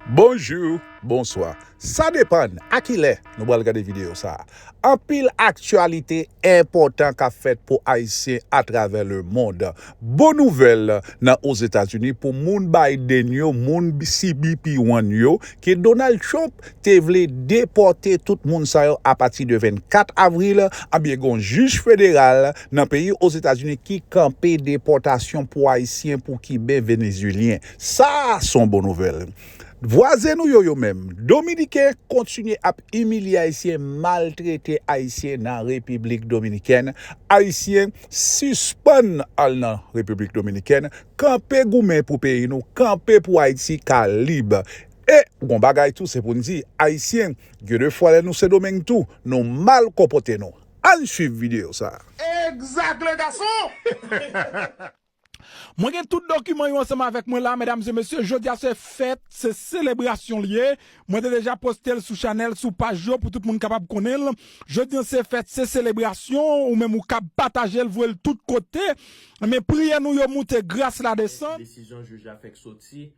Bonjou, bonswa, sa depann a ki lè nou pral gade videyo sa a. Anpil aktyalite enpòtan k ap fèt pou Ayisyen atravè lemond. Bon nouvèl nan Ozetazini pou moun Biden yo, moun CBP-One yo, ke Donald Trump te vle depòte tout moun sa yo apati de 24 avril, anbyen gen yon jij federal nan peyi Ozetazini ki kanpe depòtasyon pou Ayisyen, pou Kiben, Venezyelyen. Sa a son bon nouvèl. Vwazen nou yo yo menm, Dominiken, kontinye ap imilye Ayisyen, maltrete Ayisyen nan Repiblik Dominikèn. Ayisyen, sispann al nan Repiblik Dominikèn. Kanpe goumen pou peyi nou, kanpe pou Ayiti ka lib. E, gon bagay tou se pou n di, Ayisyen, gen de fwa lè nou Sendomeng tou, nou mal konpote nou. Ann swiv videyo sa a. Egzak le gason! Mwen gen tout dokiman yo ansanm avèk mwen la medam e mesye jodia se fèt se selebrasyon li ye mwen te deja postel sou chanèl sou paj yo pou tout moun kapab konnenl jodi an se fèt se selebrasyon ou menm ou kab patajel voyel tout kote men priyè nou yo moute gras la desann. Desizyon jij la fèk soti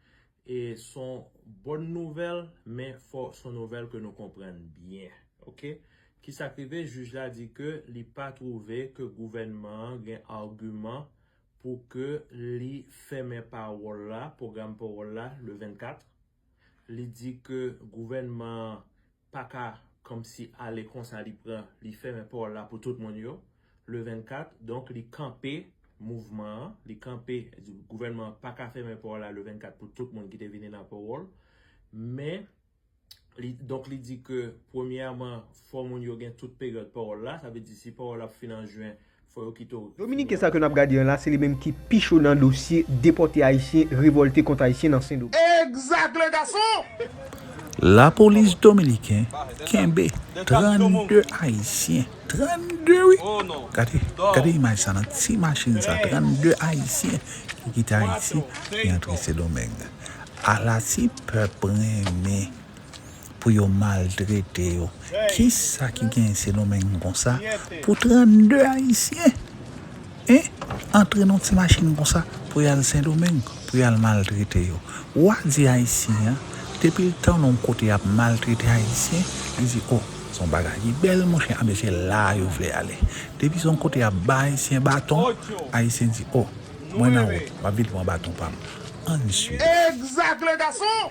E son bonne nouvelle men fò son nouvelle ke nou konprann byen ok kisak rive jij la di ke li pa trouve ke gouvènman an gen arguman pou ke li fèmen pawòl la program pawòl la le 24 li di ke gouvènman an paka kòmsi ale konsa li pran li fèmen pòl la pou tout moun yo le 24 donk li kanpe mouvman an li kanpe gouvènman an paka fèmen pòl la le 24 pou tout moun ki te vini nan powòl men li donk li di ke premyèman fò moun yo gen tout peryòd powòl la sa vle di si powòl la ap fin an jwen Fò yo kite w. Dominiken sa ke nap gade an la se li menm ki pi cho nan dosye depòte ayisyen revolte kont ayisyen nan sendomeng. Exact les garçons! Lapolis dominiken kenbe 32 ayisyen, 32 wi! Gade, gade imaj sa nan ti machin sa 32 ayisyen ki kite Ayiti ki antre Sendomeng. Ala ti pèp renmen! pou yo maltrete yo. Kisa ki genyen Sendomeng konsa pou 32 ayisyen e antre nan ti machin konsa pou yal Sendomeng pou yal maltrete yo. Wa di ayisyen an depil tande yon kote yap maltrete ayisyen li di oh son bagay ki bèl monchè anben se la yo vle ale. Depi son kote yap bay ayisyen baton ayisyen di oh. Mwen nan wout map vin pran baton pam ann swiv. Exact les garçons!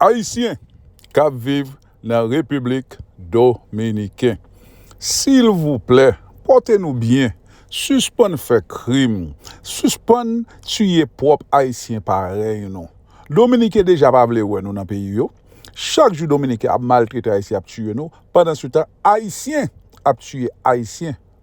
Ayisyen kap viv nan repiblik dominiken silvouplè pòte nou byen sispann fè krim sispann tiye pwòp ayisyen parèy nou dominiken deja pa vle wè nou nan peyi yo chak jou dominiken ap maltrete ayisyen ap tiye nou pandan se tan ayisyen ap tiye ayisyen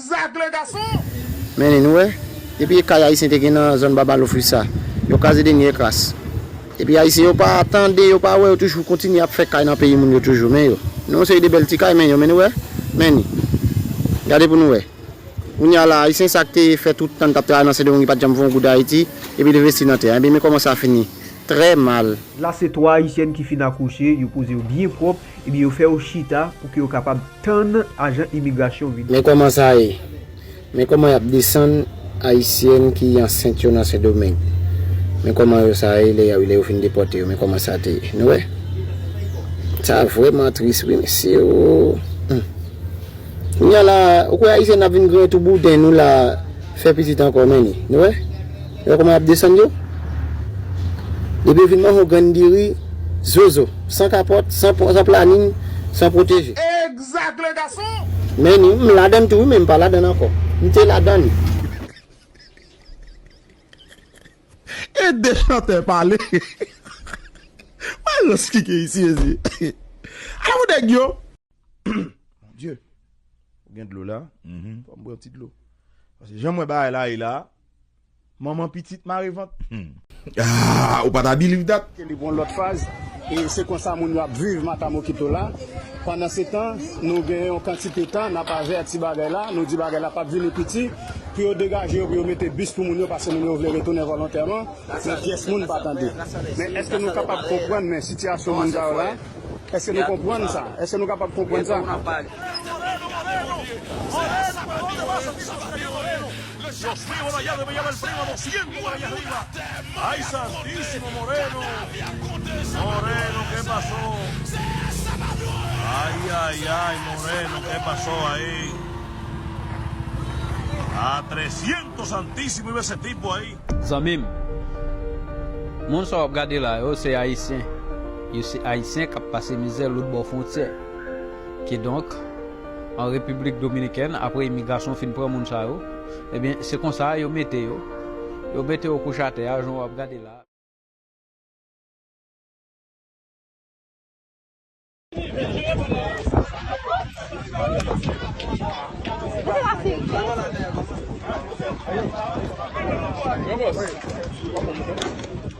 Zak le gason! Mennen nou wè, depi e kay ayisyen te gen nan zòn baba lofri sa, yo kraze dènye e kras. Epi ayisyen yo pa tande, yo pa wè, yo toujou kontinye ap fè kay nan peyi moun yo toujou. Men yo. Nou yon seri de bèl ti kay men yo men nou wè, men ni. Gade pou nou wè. Kounye a la, ayisyen sa k te fè tout tan l t ap travay nan Sendomeng li pa t janm fè yon goud Ayiti, epi l envesti nan tè a. Ebyen men kòman sa fini. Trè mal. La se 3 ayisyèn ki fin akouche, yo poze yo byen pwòp, Ebyen yo fè yo chita pou ke yo kapab tann ajan imigrasyon vini. Men kòman sa ye. Men kòman yap desann ayisyèn ki ansent yo nan sendomeng. Men kòman yo sa ye lè yo fin depòte yo men kòman sa te ye. Nou wè. Sa vrèman tris wi mesye oo. Humm. Kounya la ou kwè ayisyèn ap vin griyen tou bouden nou la fè pitit ankò menni. Nou wè. Ou wè kòman yap desann yo? Depi yo vin manho grenn diri, zozo. San kapòt, san planin, san pwoteje. Egzak le gason! Men ni, m ladann tou wi men m pa ladann ankò. M te ladann. E de chantè pale. Mayo skike isi mezye. Ala pou nèg yo. Mon Dieu. Ou gen dlo la? Fòm pran ti dlo. Pase janm wè bagay la ye la. Manman pitit mare vant humm. Aah ou pa ta biliv dat. Ke li pran lòt faz e se konsa moun yo ap viv matamokito la pandan se tan nou gen yon kantite tan nap avèti bagay la nou di bagay la pap vini piti pou yo degaje yo pou yo mete bis pou moun yo paske moun yo vle retounen volontèman men pyès moun pa tande men eske nou kapab konprann men sitiyasyon moun sa yo la eske nou konprann sa eske nou kapab konprann sa. Zanmim Moun sa wap gade la yo se ayisyen yo se ayisyen kap pase mizè lotbò fwontyè. Kidonk, an Repiblik Dominikèn, apre imigrasyon fin pran moun sa yo, ebyen, se konsa yo mete yo, yo mete yo kouche atè a, jan w ap gade la a.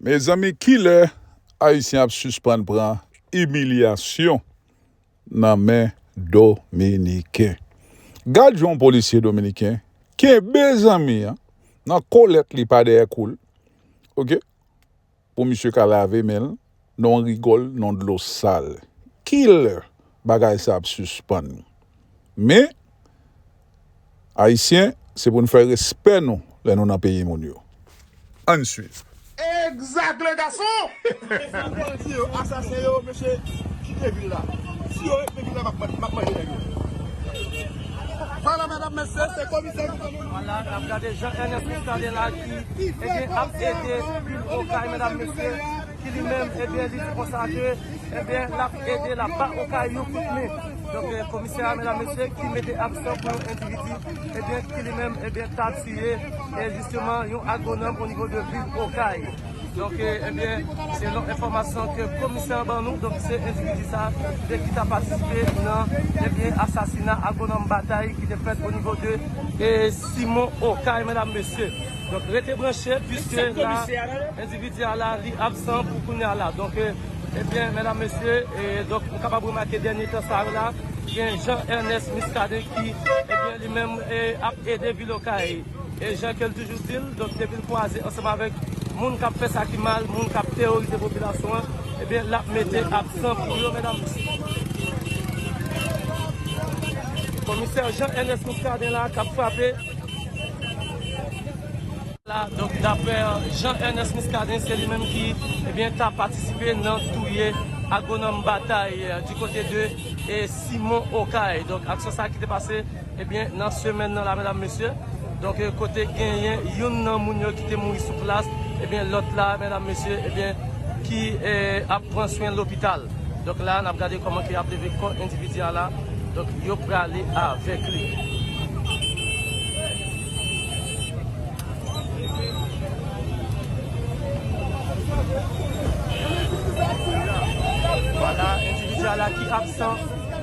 Mezanmi kilè ayisyen ap sispann pran imilyasyon nan men dominiken gad jan yon polisye dominiken kenbe zanmi an nan kolèt li pa dèyè koul ok pou misye ka lave menl. non rigòl non dlo sal kilè bagay sa ap sispann men ayisyen se pou nou fè respè nou lè nou nan peyi moun yo ann swiv. Exact le gason! San manti yo asasen yo mesye kite vil la si yo ret nan vil la map manje nèg yo. Pale madame mesye se komisè gouveman. ki ebyen ap ede vil okay medam mesye ki li menm ebyen li di konsa ke ebyen lap ede lap ba okay yon kout men donk komisè a medam mesye ki mete aksyon pou yon endividi ebyen ki li menm ebyen ta tiye e jisteman yon agonòm o nivo de vil okay. Donk ebyen selon enfòmasyon ke komisè an ban nou donk se endividi sa de ki ta patisipe nan ebyen asasina agwonòm Bataille ki te fèt onivo de Simon Okay medam mesye. Donk rete branche puiske la endividi a la li absan pou kounya la donk ebyen medam mesye donk nou kapab remake dènye tan sa yo la gen Jean Ernest Muscadin ki ebyen li menm ap ede vil Okay. E jan ke l toujou di l, donk depi l kwaze ansanm avèk moun k ap fè sa ki mal, moun k ap teworize popilasyon an, ebyen l ap mete aksan pou yo medam. Komisè Jean Ernest Muscadin la k ap frape. La, donk daprè Jean Ernest Muscadin, se li menm ki, ebyen ta patisipe nan touye agwonòm Bataille di kote de Simon Okay. Donk aksyon sa ki te pase. Ebyen nan semèn nan la medam mesye donk kote genyen youn nan moun yo ki te mouri sou plas ebyen lòt la medam mesye ebyen ki ap pran swen lopital donk la nap gade kòman ke yap leve kò endividi a la donk yo prale avèk li. Vwala endividi a la ki absan.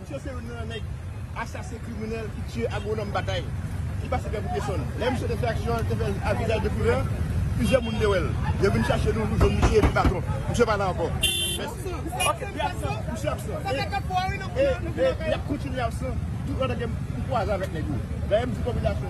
Misye se youn nan nèg asasen kriminèl ki tiye agwonòm Batay ki pase pè pou pye sòn. Lè misye te fè aksyon an, li te fè l a vizaj de kouvè, plizyè moun te wè l. Yo vin chache nou, nou jwenn misye epi baton. Misye pa la ankò. Mèsi. Ok, li absan. Misye absan. Sa fè 4 fwa wi nou konnen l. E, e, li ap kontinye absan tout lè gen pou kwaze avèk nèg yo. Dayè m di popilasyon.